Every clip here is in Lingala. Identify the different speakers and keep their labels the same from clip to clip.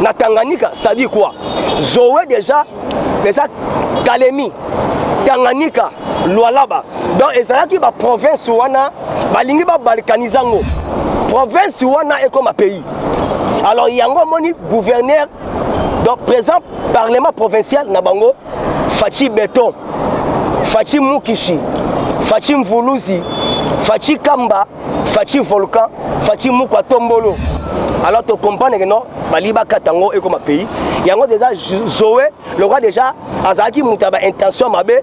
Speaker 1: na Tanganyika c'est-à-dire quoi Zoé déjà eza Kalemi Tanganyika Lualaba donc ezalaki ba province wana balingi ba balkanize yango province wana ekoma pays alors yango omoni gouverneur donc présent parlement provincial na bango Fatshi Beton Fatshi Mukishi Fatshi Mvuluzi Fatshi Kamba Fatshi volcan, Fatshi mukwa tombolo. Alors to comprendre que non, bali bakata ngo ekoma pays. Yango déjà Zoé, le roi déjà azalaki moto ya baintention mabe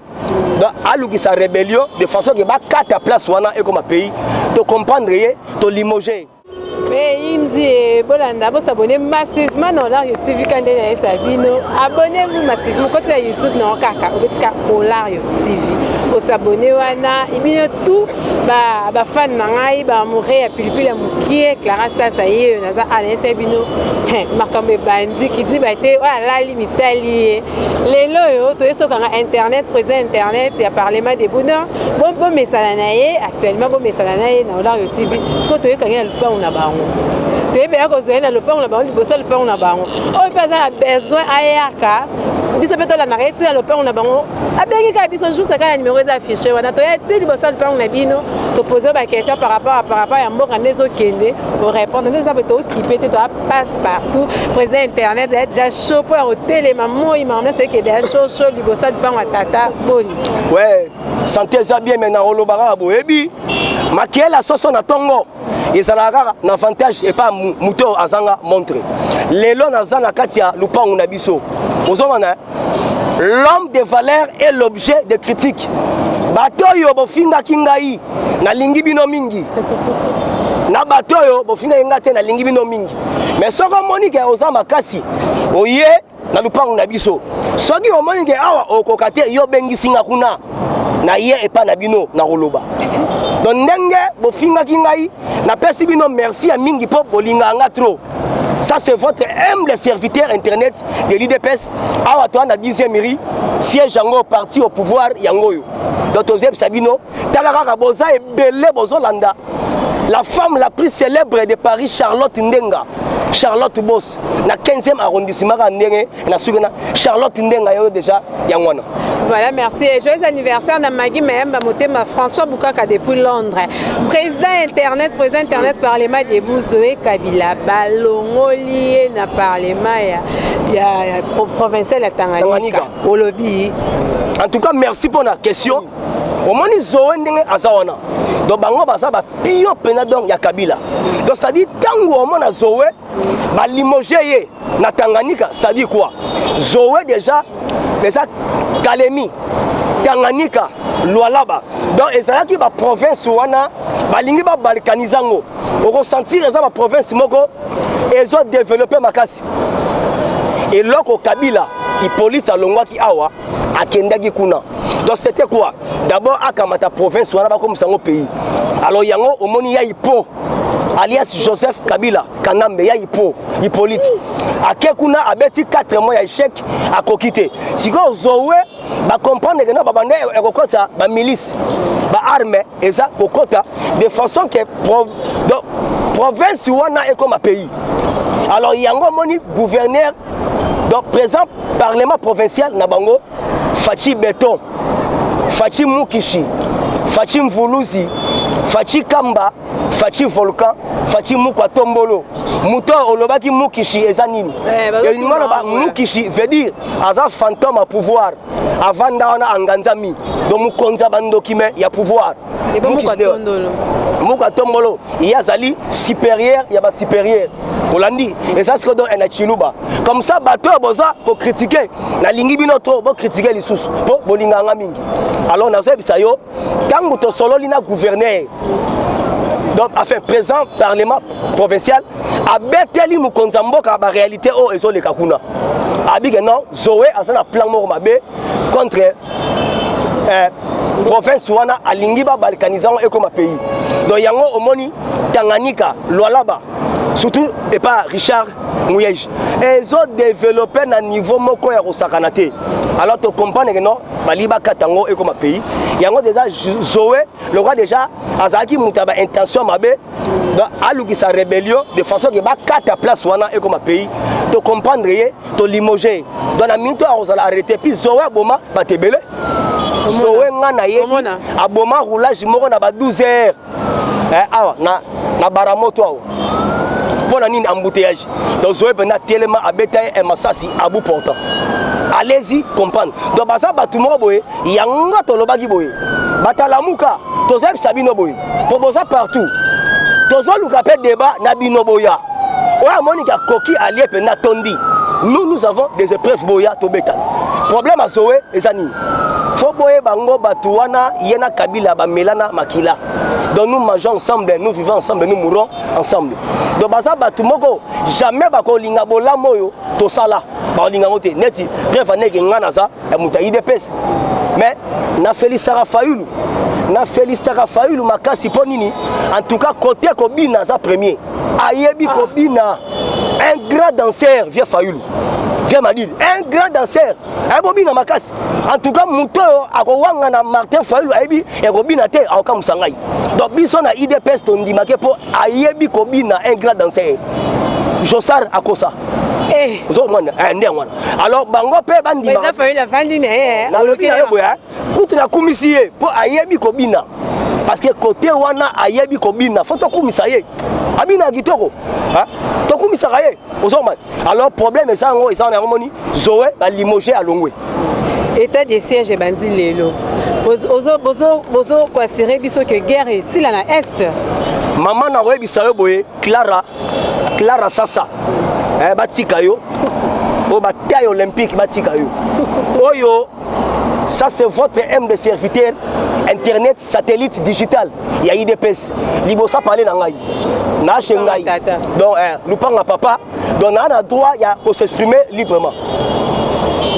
Speaker 1: alukisa rébellion de façon ke bakata place wana ekoma pays tocomprendre ye tolimoge eyindi
Speaker 2: bolanda bosabone massivement na olario tv ka nde nayesa bino abone vous massivement koti na youtube na yo kaka obetika olario tv osabone wana ibino tout ba ba fan na ngai ba amoureux ya pilipili ya mukie Clara Sasa yeyo naza anayesa bino makambo ebandi kidiba te oyo alali mitali ye lelo oyo toyesokanga internet président internet ya parlement de buna bomesana na ye actuellement bomesana na ye na olario tv sikoyo toyekangi na lopango na bango toyebi ya kozwa ye na lopango na bango liboso ya lopango na bango oyo mpe aza na besoin ayaka biso mpe tolandaka ye ntina lopango na bango abengi kaka biso juste kaka numero eza affiche wana toya ti liboso ya lupango na bino topose baquestion par rapport a par rapport ya mboka nde ezokende orépondre nde eza boye tookipe te toya passe partout président internet aya déjà chaud mpo ya kotelema moi mamna sekede ya chaud chaud liboso ya lupango ya tata boni we
Speaker 1: sante eza bien me na oloba kaka boyebi makele ya soso na ntongo ezalaka kaka na avantage epa moto azanga montre lelo naza na kati ya lupango na biso ozomana l'homme de valeur est l'objet de critique bato oyo bofingaki ngai nalingi bino mingi na bato oyo bofingaki ngai te nalingi bino mingi mais soki omoni ke oza makasi oye na lupango na biso soki omoni ke awa okoka te yo obengisi nga kuna naye epa na bino na koloba donc ndenge bofingaki ngai napesi bino merci ya mingi mpo bolingaka nga trop Ça c'est votre humble serviteur internet de l'IDPS. Awa toi na 10e ri siège yango parti au pouvoir yango yo. Donc tozeb Sabino, talaka boza et belé bozo landa. La femme la plus célèbre de Paris Charlotte Ndenga. Charlotte Boss na 15e arrondissement ka ndenge na suki na charlotte ndenga yo deja yango wana Voilà, merci.
Speaker 2: Et joyeux anniversaire à Maggie Mayamba Motema, François Boukaka depuis Londres. Président Internet, président Internet, Parlement des Bouzoé Kabila, Balongolier na Parlement, il y a provincial à Tanganyika, au lobby. En tout cas,
Speaker 1: merci pour la question. Au moins, ils ont un azawana. Donc, bango baza ba pion pena donc ya Kabila. Donc, c'est-à-dire, tango au moins na Zoé, ba limoge ye na Tanganyika c'est-à-dire quoi Zoé déjà eza Kalemi Tanganyika Lualaba donc ezalaki ba province wana balingi ba balkaniser yango okosentir eza ba province moko ezo développer makasi eloko Kabila Hippolyte alongwaki awa akendaki kuna donc c'était quoi d'abord akamata province wana bakomisa yango pays alors yango omoni ya ipo alias joseph kabila kanambe ya ipo ipolite ake kuna abeti 4 mois ya echec akoki te sikoyo zowe bacomprendre ke na babanda ekokota bamilice baarme eza kokota de façon ke pro, do, province wana ekoma pays alors yango omoni gouverneur donc présent parlement provincial na bango Fatshi beton, Fatshi mukishi, Fatshi mvuluzi, Fatshi kamba, Fatshi volcan, Fatshi mukwa tombolo. Moto olobaki mukishi eza nini? Eh, Elingi oloba mukishi veut dire aza fantôme à pouvoir. Avanda wana anganzami. Donc mokonzi ya bandoki mais ya pouvoir. muka tombolo ye azali supérieur ya basupérieur olandi eza siko do na chiluba comme ça bato oyo boza kokritike nalingi bino to bokritike lisusu mpo bolinganga mingi alors nazoyebisa yo ntango tosololi na gouverneur donc enfin présent parlement provincial abeteli mokonzi ya mboka ya baréalité oyo ezoleka kuna abike non zoe aza na plan moko mabe contre eh, province wana alingi babalkanize yango ekoma pays donc yango omoni tanganyika lwalaba surtout epa richard muyege ezodeveloppe na niveau moko ya kosakana te alors tokomprendre ke non balingi bakata yango ekoma pays yango deja zoe lokola deja azalaki moto ya baintention mabe alukisa rébellion de façon ke bakata place wana ekoma pays tokomprendre ye to limoger donc na minute oyo akozala arrete puis zoe aboma bato ebele zoe nga na ye aboma roulage moko na ba 12 heures eh, awa na, na baramoto awa mpo na nini embouteillage donc zoe mpenza atelema abeta ye eh, masasi abu portant allez-y comprendre donc baza bato moko boye yango tolobaki boye batalamuka tozoyebisa bino boye mpo boza partout tozoluka mpe deba na bino boya oyo amoniki akoki alie mpenza tondi nous nous avons des épreuves boya tobetana problème azoe eza nini fo boyeba ngo bato wana ye na kabila bamelana makila donc nous mangeons ensemble nous vivons ensemble nous mourons ensemble donc baza bato moko jamais bakolinga bolamu oyo tosala bakolinga yango te neti preuve aneke ngai naza ya moto ya idps mais na felisaka fayulu na felisaka fayulu makasi mpo nini en tout cas kote kobina aza premier ayebi ah. kobina un grand danseur vie fayulu vie madidi un grand danseur ayebi kobina makasi en tout cas moto oyo akowanga na martin fayulu ayebi ekobina te akokamusa ngai donc biso na idps tondimake mpo ayebi kobina un grand danseur josar akosa eh. ozomona eh, nde yango wana alors bango mpe bandimalobi
Speaker 2: na ye boye
Speaker 1: kutu nakumisi ye mpo ayebi kobina parce que kote wana ayebi kobina fo tokumisa ye abina ya kitoko tokumisaka ye ozomani alors problème eza yango eza na yango moni zoe balimoge alongwe état de
Speaker 2: siège ebandi lelo bozokwasire biso ke guerre esila na est mama
Speaker 1: nakoyebisa yo boye clara clara sasa eh, batika yo oyo bataille olympique batika yo oyo ça c'est votre m de serviteur internet satellite digital ya idps liboso apale na ngai naashe ngai donc eh, lupanga papa donc naa na droit ya kosexprime librement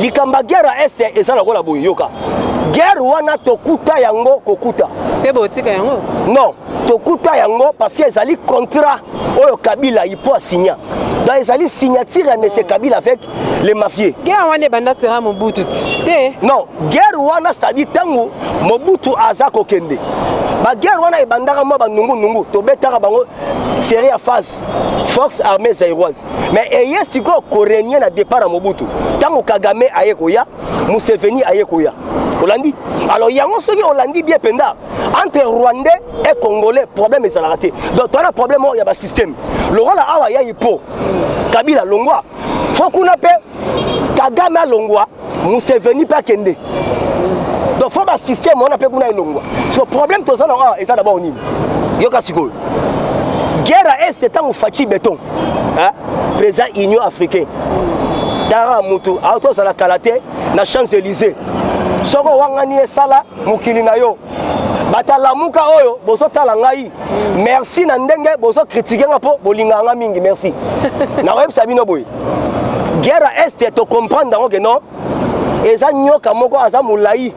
Speaker 1: likambo ya guerre ya este eza lokola boye yoka guerre wana tokuta yango kokuta te botika yango
Speaker 2: non tokuta
Speaker 1: yango parce que ezali contrat oyo kabila ipo asinya donc ezali signature ya monsieur kabila avec les mafieux guerre wana ebanda sera
Speaker 2: mobutu te non guerre
Speaker 1: wana c'est-à-dire ntango mobutu aza kokende baguerre wana ebandaka mwa banungunungu tobetaka bango serie ya phase fox armée zairoise mais eye sikoyo korenie na départ ya mobutu ntango kagame aye koya museveni aye koya olandi alors yango soki olandi bien mpenza entre rwandais et congolais problème ezalaka te donc toza na problème oyo ya basystème lokola awa ya ipo kabila longwa fo kuna mpe kagame alongwa museveni mpe akende donc fo basystème wana mpe kuna elongwa so problème toza na awa eza dabord nini yoka sikoyo guerre ya este ntango faci beton président union africain tara motu aotozala kala te na champs élysée soko owangani esala mokili na yo bata lamuka oyo bozotala ngai merci na ndenge bozokritike nga mpo bolingaka nga mingi merci nakoyebisa bino boye guerre ya este tocomprendre yango ke no eza nyoka moko aza molai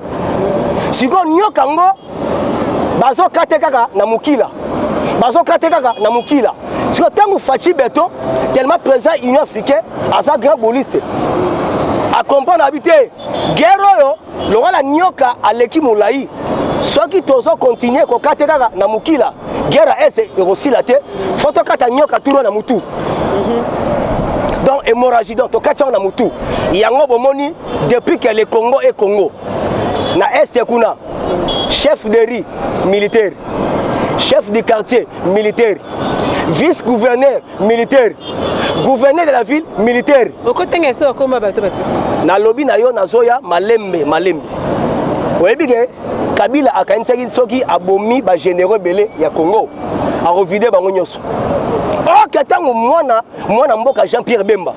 Speaker 1: sikoyo nyoka yango bazokate kaka na mokila bazokate kaka na mokila sikoyo ntango faci beton tellement président union africain aza grand boliste acomprendre abi te guerre oyo lokola nioka aleki molai soki tozo kontinue kokate kaka na mokila guerre ya este ekosila te fo tokata nioka turo na motu donc hémorragie donc tokati yango na motu yango bomoni depuis que le congo e congo na este kuna chef de riz militaire chef du quartier militaire vice gouverneur militaire gouverneur de la ville militaire okotanga esi okoma bato bati nalobi na yo nazoya malembe malembe oyebi ke kabila akanisaki soki abomi bagénéraux ebele ya congo akovide bango nyonso oke ntango mwana mwana mboka jean pierre bemba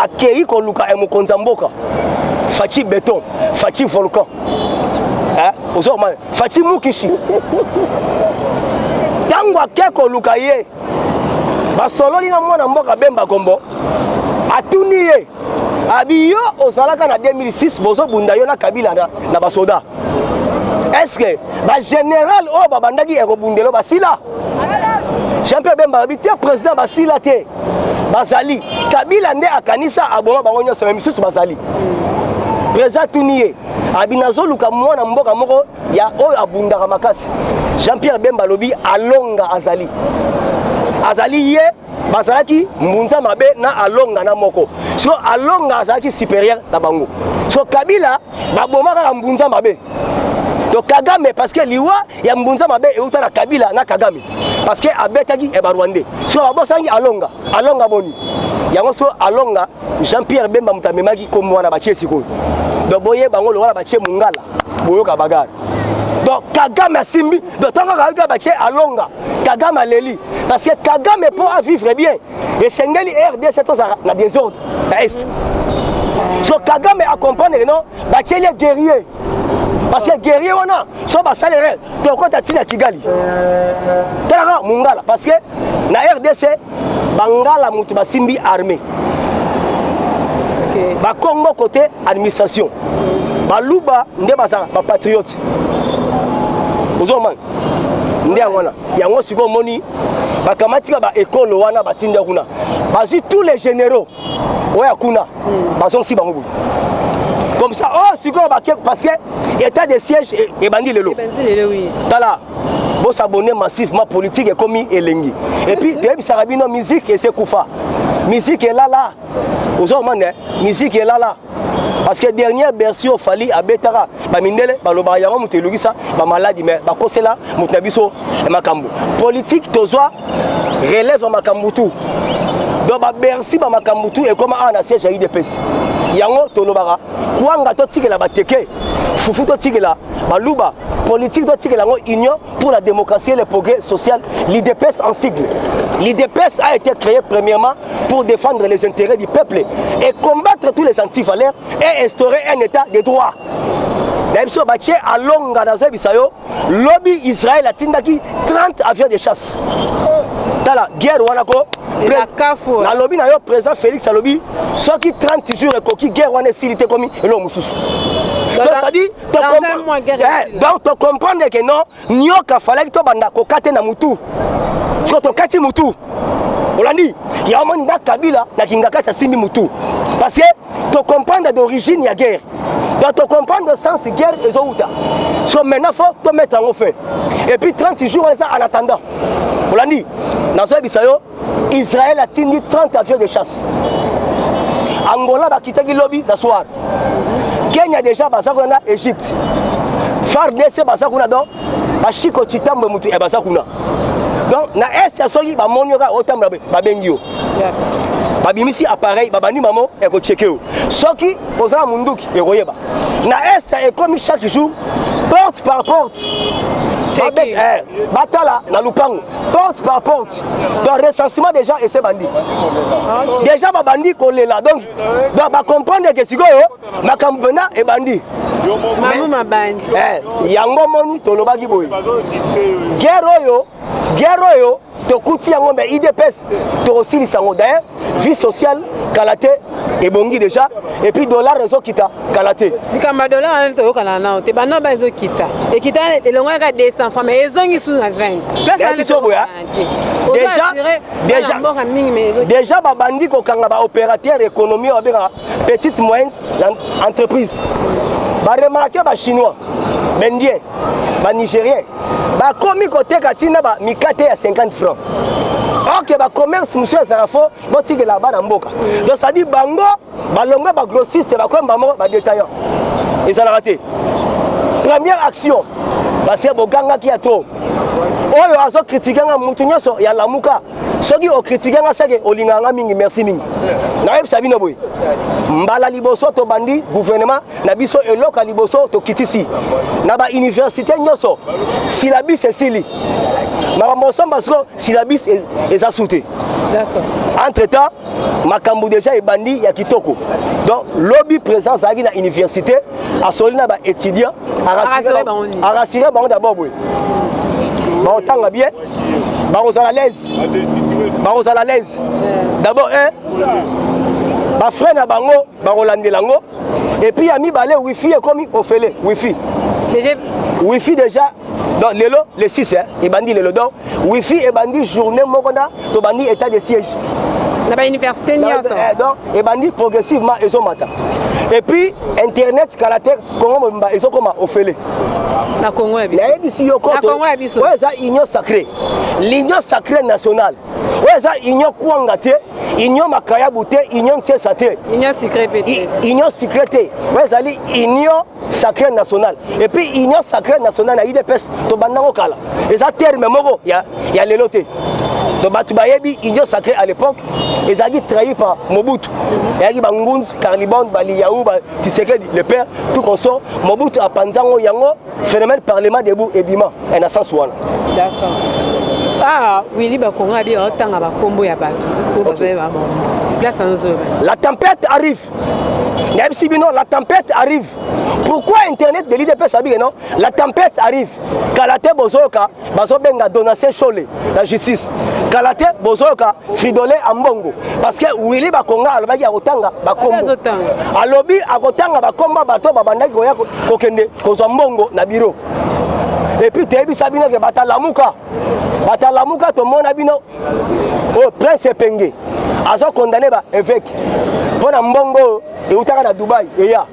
Speaker 1: akei koluka ya mokonzi ya mboka faci beton faci volcan ozokomana faci mukishi ntango ake koluka ye basololi na mwana mboka bemba kombo atuni ye abi yo ozalaka na 2006 bozobunda yo na kabila na, na basoda eske bagénéral oyo babandaki ekobundelo basila jean pierre bemba abi te président basila te bazali kabila nde akanisa aboma bango nyonso me misusu bazali président atuni ye abi nazoluka mwana mboka moko ya oyo abundaka makasi jean pierre bemba alobi alonga azali azali ye bazalaki mbunza mabe na alonga na moko so alonga azalaki supérieur na bango so kabila baboma kaka mbunza mabe to kagame parce que liwa ya mbunza mabe euta na kabila na kagame parce que abetaki ya barwandais so babosangi alonga alonga boni yango so alonga Jean Pierre Bemba moto amemaki kombo wana batie sikoyo donc boyeba yango lokola batie mongala boyoka bagare donc kagame asimbi donc ntango kaka batie alonga kagame aleli parce que kagame mpo avivre bien esengeli rdc tozala na desordre na est so kagame acomprendre no batieli guerrier parce que guerrier wana so basalere tokota ntina kigali talaka mongala parce que na rdc bangala moto basimbi armée okay. bakongo côté administration baluba nde bazala bapatriote ozomana nde yango wana yango sikoyo omoni bakamatika baekolo wana batinda kuna bazwi tous les généraux oyo ya kuna hmm. bazongisi bango boye comme ça oh sikoyo bake parce que état de siège e, ebandi lelo tala bosabone massivement politique ekomi elengi epuis toyebisaka bino musique ese kufa musique elala ozo omona musique elala parce que dernière bercy oyo fali abetaka bamindele balobaka yango moto elukisa bamaladi mais bakosela moto na biso makambo politike tozwa relève ya makambo tu donc babercy bamakambo tu ekoma awa na siège ya idps yango tolobaka kwanga totikela bateke fufu totikela baluba politike totikela yango union pour la démocratie et le progrès social, l'IDPS en sigle. L'IDPS a été créé premièrement pour défendre les intérêts du peuple et combattre tous les antivaleurs et instaurer un état de droit. na biso batie alonga nazoyebisa yo lobi israel atindaki 30 avion de chasse tala guerre wana ko nalobi na yo président félix alobi soki 30 jours ekoki guerre wana esili te komi eloko mosusu donc tocomprendre ke non nioka falaki tobanda kokate na mutu so tokati mutu olandi ya omoni nda kabila na kingakati asimbi mutu parce que tocomprendre d'origine ya guerre donc tocomprendre sens guerre ezowuta so maintenant fo tomettre yango fin et puis 30 jours eza en attendant olandi nazoyebisa yo Israël atindi 30 avions de chasse. Angola bakitaki lobi na soir. Kenya déjà baza kuna na Egypte. FARDC baza kuna donc bashiko chitambo mutu e eh, baza kuna. Donc na est ya soki bamoni yoka otambula babengi yo. babimisi appareil babandi mamo ekocheke yo soki oza na munduki ekoyeba na est ekomi chaque jour porte par porte Eh, batala na lupango porte par porte date donc recensement déjà ese bandi déjà babandi kolela donc donc bacomprendre ke sikoyo makambo mpena ebandi
Speaker 2: eh, yango
Speaker 1: moni tolobaki boye guerre oyo guerre oyo tokuti yango me idps tokosilisa yango daye vie sociale kala te ebongi déjà et puis dollar ezokita kala te likambo ya dollar wana
Speaker 2: toyokana nao te banoba ezokita ekita elongo yaka 200 fois mais ezongi sous na 20 placebiso boya
Speaker 1: déjà babandi kokanga baopérateur économie oyo babengaka petite moyenne entreprise baremarke bachinois baindien banigérien bakomi koteka ti na bamikate ya 50 franc oke bacommerce mosusu ezala fo botikela bana mboka donc cetadire bango balongwe bagrossiste bakomi bango badetaillant ezalaka te première action basi bogangaki ya to oyo azokritike nga motu nyonso ya lamuka soki okritike nga seke olingaka nga mingi merci mingi nayebisa bino boye mbala liboso tobandi gouvernement na biso eloko ya liboso tokitisi na bauniversité nyonso silabis esili makambo osomba siko silabis e-, eza su te
Speaker 2: entre temps
Speaker 1: makambo deja ebandi ya kitoko donc lobi président azalaki na université asoli na baétudiant arasire bango dabord boye baotanga bien bakozala laise bakozala laise dabord un bafrai na bango bakolandela yango et puis ya mibale wifi ekomi ofele wifi déjà
Speaker 2: wifi
Speaker 1: déjà donc lelo le 6 hein, ebandi lelo donc wifi ebandi journée moko na tobandi état de siège na bauniversité
Speaker 2: nyonso eh, donc ebandi
Speaker 1: progressivement ezomata et puis internet kala te congo mobimba ezokoma ofele na congo
Speaker 2: ya biso nayebisi yo koto
Speaker 1: oyo eza
Speaker 2: union sacrée
Speaker 1: l'union sacrée nationale oyo eza union kwanga te union makayabu te union nsesa te union secret pe
Speaker 2: te union secret te
Speaker 1: oyo ezali union sacré nationale epuis union sacré nationale na idps tobandango kala eza terme moko ya, ya lelo te donc bato bayebi union sacré à l'époque ezalaki trahi par mobutu eyaki bangunzi carlibon baliyau batisekedi le père tout consort mobutu apanzango yango phénomène parlement debout ebima eh, na sens wana
Speaker 2: d'accord ah wili bakongo abi otanga bakombo ya bato oyo bazali babongo place anozoloba
Speaker 1: la tempête arrive nayebisi bino la tempête arrive pourquoi internet de l'idps abike non la tempête arrive kala te bozoyoka bazobenga donatien shole na justice kala te bozoyoka fridole ambongo parce que willi bakonga alobaki akotanga bakombo alobi akotanga bakombo bato babandaki koya kokende kozwa mbongo na biro epuis toyebisa bino ke batalamuka batalamuka tomona bino oyo oh, prince epenge azokondane ba eveke mpo na mbongo eutaka na dubai eya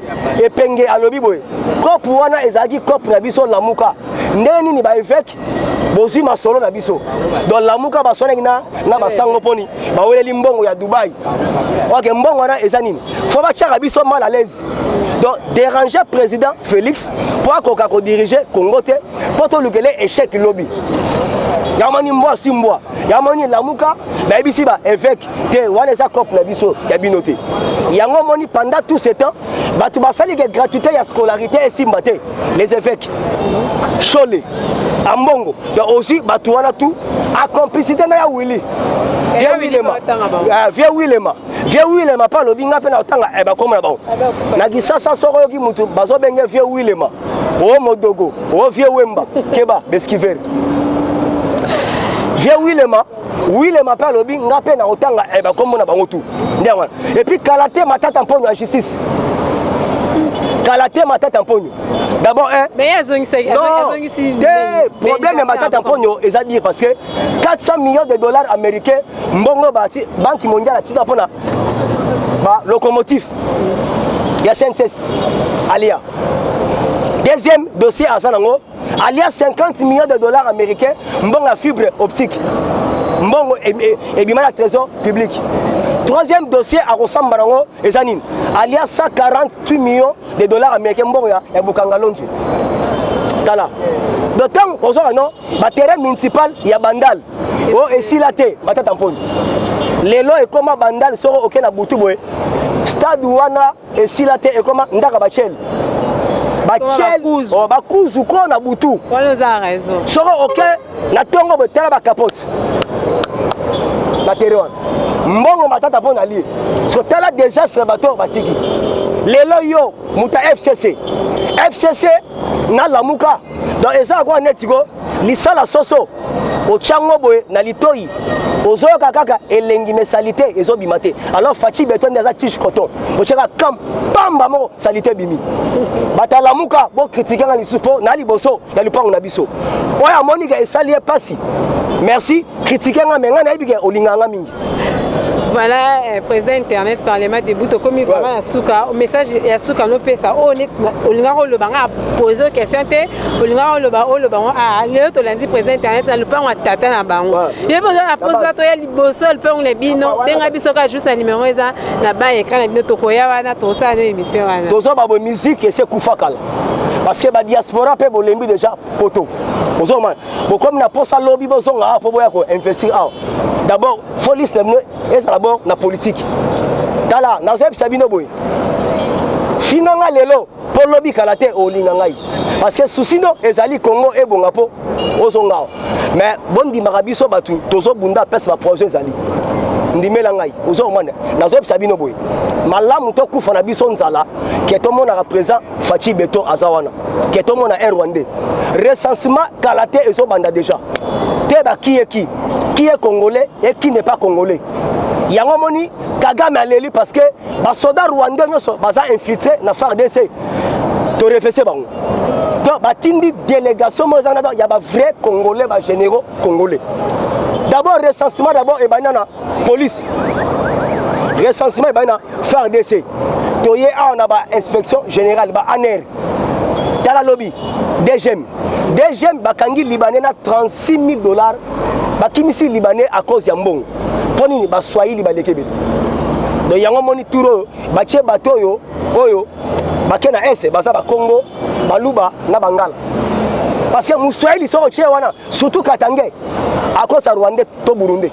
Speaker 1: epenge alobi boye cope wana ezalaki cope na biso lamuka ndenge nini baeveke bozwi masolo na biso don lamuka baswanaki na, na basango mponi baweleli mbongo ya dubai oke mbongo wana eza nini fo batyaka biso mal à l'aise donc déranger président félix mpo akoka kodirige congo te mpo tolukele échec lobi yamani mbwa si mbwa yamani lamuka bayebisi baeveke te wana eza cope na biso ya bino te yango omoni pendant tout ce temps bato basali ke gratuité ya scolarité esimba te les évêques shole ambongo donc ozwi bato wana tout acomplicité na ya willi vie wilema vie wilema vie wilema mpe alobi ngai mpe na kotanga eh, bakoma na bango na kisasa soko oyoki motu bazobenge vie wilema o oh, modogo o oh, vie wemba keba beskivere vie wilema wile mape alobi nga mpe nakotanga eh, bakombo na bango tu nde yango wana epuis kala te matata mponyo ya justice kala te matata mponyo d'abord eh,
Speaker 2: te problème
Speaker 1: ya matata mponyo eza dire parce que 400 millions de dollars américains mbongo banque mondiale atika mpo na balocomotif ya cncs alia deuxième dossier aza nango alia 50 millions de dollars américains mbongo ya fibre optique mbongo ebima na trésor public troisième dossier akosamba nango eza nini alia 148 millions de dollars américains mbongo ya bukangalonji tala do ntango ozwaka no baterrain municipal ya bandal o oh, esila te batata mponi lelo ekoma bandal soko oke na butu boye stade wana esila te ekoma ndaka bachel bachel oh, bakuzu ko na butu
Speaker 2: soko oke
Speaker 1: na ntongo boye tala bakapote na tere wana mbongo matata mpo na lie soko tala desastre ya bato oyo batiki lelo yo moto ya fcc fcc na lamuka donc eza akoa neti ko lisala soso ochango boye na litoyi ozoyoka kaka elengi me salite ezobima te alors faci beton nde aza tige coton otyaka kam pamba moko salite ebimi batalamuka bokritike nga lisusu mpo na liboso ya lipango na biso oyo amonika esali ye mpasi merci critiquer nga mais nga nayebi ke olingaka nga mingi voilà
Speaker 2: euh, président internet parlement debout tokomi vraiment na suka message ya suka nopesa oyo oh, neti olingaka oloba nga pose question te olingaka oloba oloba ngo a lelo tolandi président internet na lopango ya tata na bango ye mpe oza na mposa toya liboso ya lopango na bino benga biso kaka juste na numero eza na ba ekran na bino tokoya wana tosala no émission wana toza babo musique
Speaker 1: ese kufa kala parce que badiaspora mpe bolembi déjà poto ozomana bokomi na posa lobi bozonga awa mpo boya ko investir awa d'abord fo liste na bino ezala bo na politique tala nazoyebisa bino boye finga nga lelo mpo lobi kala te olinga ngai parce que susi no ezali congo ebonga mpo ozonga awa mais bondimaka biso bato tozobunda apese baprojet ezali ndimela ngai ozokomanda nazoyebisa bino boye malamu tokufa na biso nzala ke tomonaka présent Fatshi Beton aza wana. Keto mona un Rwandais. Recensement kala te ezo banda déjà. Te ba qui est qui? Qui est congolais et qui n'est pas congolais? yango moni kagame aleli parce que basoda rwandais nyonso baza infiltre na fardc torefese bango donc batindi délégation moko eza na ya bavrai congolais bagénéraux congolais d'abord recensement d'abord ebandi na police recensement ebandi na fardc toye awa na ba inspection générale ba aner tala lobi dgm dgm bakangi libanais na 36 000 dollars bakimisi libanais à cause ya mbongo mpo nini baswahili baleki ebele donc yango omoni tour oyo batie bato oyo oyo bake na ese baza bakongo baluba na bangala parce que moswahili soki otie wana surtout katange akosa rwandais to burundais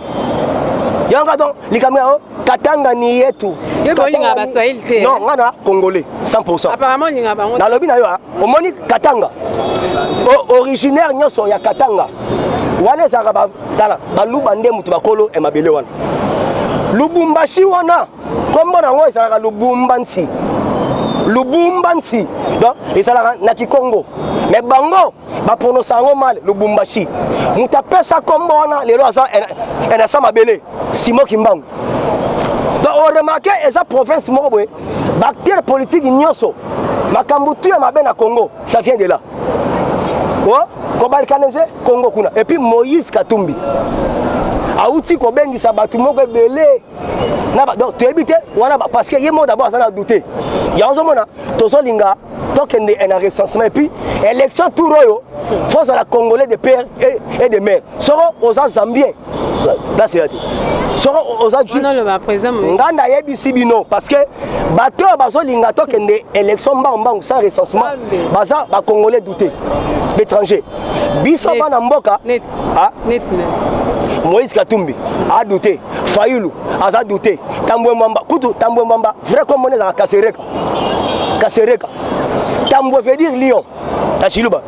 Speaker 1: yango donc likambo yango Katanga ni yetu. Yo bolinga ba Swahili te. Non, ngana congolais 100%. Apparemment linga bango. Na
Speaker 2: lobi na yo, ah, omoni
Speaker 1: Katanga. O, originaire nyoso ya Katanga. Wana ezaka ba tala, ba luba nde mutu bakolo e mabele wana. Lubumbashi wana kombo nango ezalaka Lubumbansi. Lubumbansi. Donc ezalaka na Kikongo. Mais bango baprononsa yango male lubumbashi moto apesa nkombo wana lelo aza enasa mabele simo kimbangu donc oremake eza province moko boye baacteur politike nyonso makambo tu ya mabe na congo ça vient de là o oh, kobalkanese congo kuna epuis moïse katumbi awuti kobengisa bato moko ebele donc toyebi te wana parce que ye moko d'abord aza na doute yango ozomona tozolinga tokende na recensement epuis élection tour oyo fo ozala congolais de père et de mère soko oza zambien place eya te soko oza
Speaker 2: nga nayebisi
Speaker 1: bino parce que bato oyo bazolinga tokende élection mbangu mbangu sans recensement baza bacongolais doute d'étranger biso bana mboka ah? neti
Speaker 2: nani moïse
Speaker 1: katumbi adoute fayulu aza doute tambwe mwamba kutu tambwe mwamba vrai komona ezaka kasereka kasereka tambwe veut dire lion na chiluba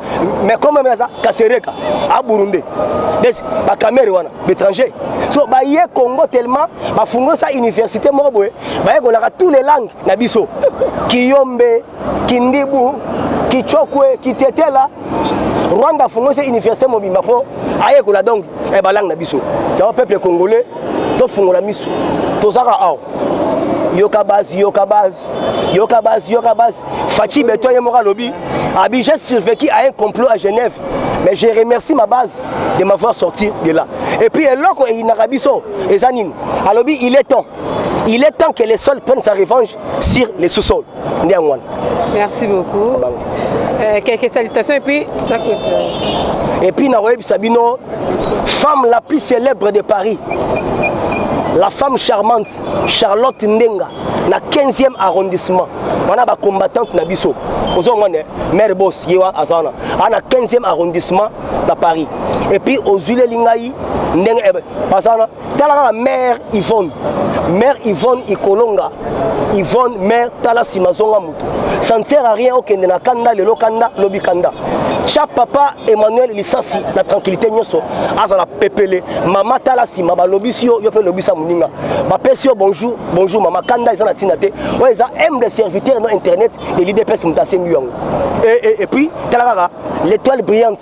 Speaker 1: mais comme aza kasereka a burundais des bakamere wana baétranger so baye congo tellement bafungosa université moko boye bayekolaka tous les langues na biso kiyombe kindibu kichokwe kitetela rwanda afungwisi université mobimba mpo ayekola donc eh, balangue na biso yango peuple congolais tofungola miso tozaka awa yoka base yoka base yoka base yoka base faci beton ye moko alobi abi j'ai survécu à un complot à genève mais je remercie ma base de m'avoir sorti de là et puis eloko eyinaka biso eza nini alobi il est temps il est temps que les sols prennent sa revanche sur le sous-sol nde yango wana
Speaker 2: merci beaucoup euh, quelques salutations et puis la clôture et puis nakoyebisa
Speaker 1: bino femme la plus célèbre de paris la femme charmante charlotte ndenga na 15e arrondissement wana bacombattante na biso ozo omona maire bos ye wa aza wana a na 15e arrondissement na paris epuis ozwileli ngai ndenge eh, baza wana tala kaka mare yvonne mare yvonne ikolonga yvonne mare tala nsima zonga motu ça ne sert à rien okende na kanda lelo kanda lobi kanda tya papa emmanuel lisasi na tranquillité nyonso azala pepele mama tala nsima balobisi yo yo mpe lobisa moninga bapesi yo bonjour bonjour mama kanda eza na ntina te oyo eza humble serviteur no internet elidps moto asengi yango e, e, et puis tala kaka l'étoile brillante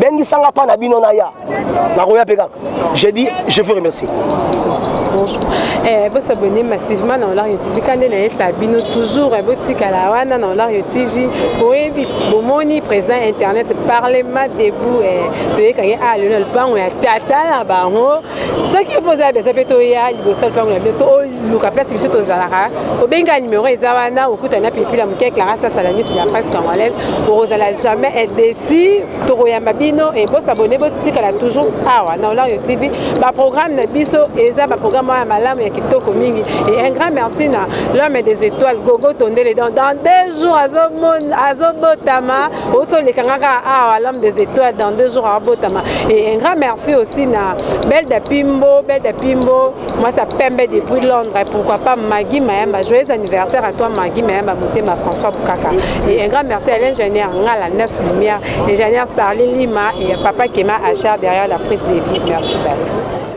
Speaker 1: bengisanga pa na bino naya nakoya mpe kaka je dis je vous remercie
Speaker 2: eh, bosabone massivement na olario tv ka nde nayesa bino toujours eh, botikala wana na olario tv boyebi bomoni président internet parlement debout eh, toyekaki a ah, lelo na lopango ya tata na bango soki mpo oza besoin mpe toya liboso lupango na bino toluka place biso tozalaka obenga numero eza wana okuta na pipila moke clara sasala miso ya presse congolaise okozala jamais edesi tokoyamba bino e bosabone botikala toujours awa na olario tv baprogramme na biso eza baprogramme oyo ya malamu ya kitoko mingi e un grand merci na l'homme des étoiles gogo tondele donc dans deux jours azobotama oti olekanga kaka awa ah, l'homme des étoiles dans deux jours abotama et un grand merci aussi na belda pimbo belda pimbo mwasi apembe depuis londres pourquoi pas magi mayamba joyeux anniversaire à toi magi mayamba motema françois bukaka et un grand merci à l'ingénieur ngala neuf lumière ingénieur starlin lima et papa kema achar derrière la prise de vie merci bye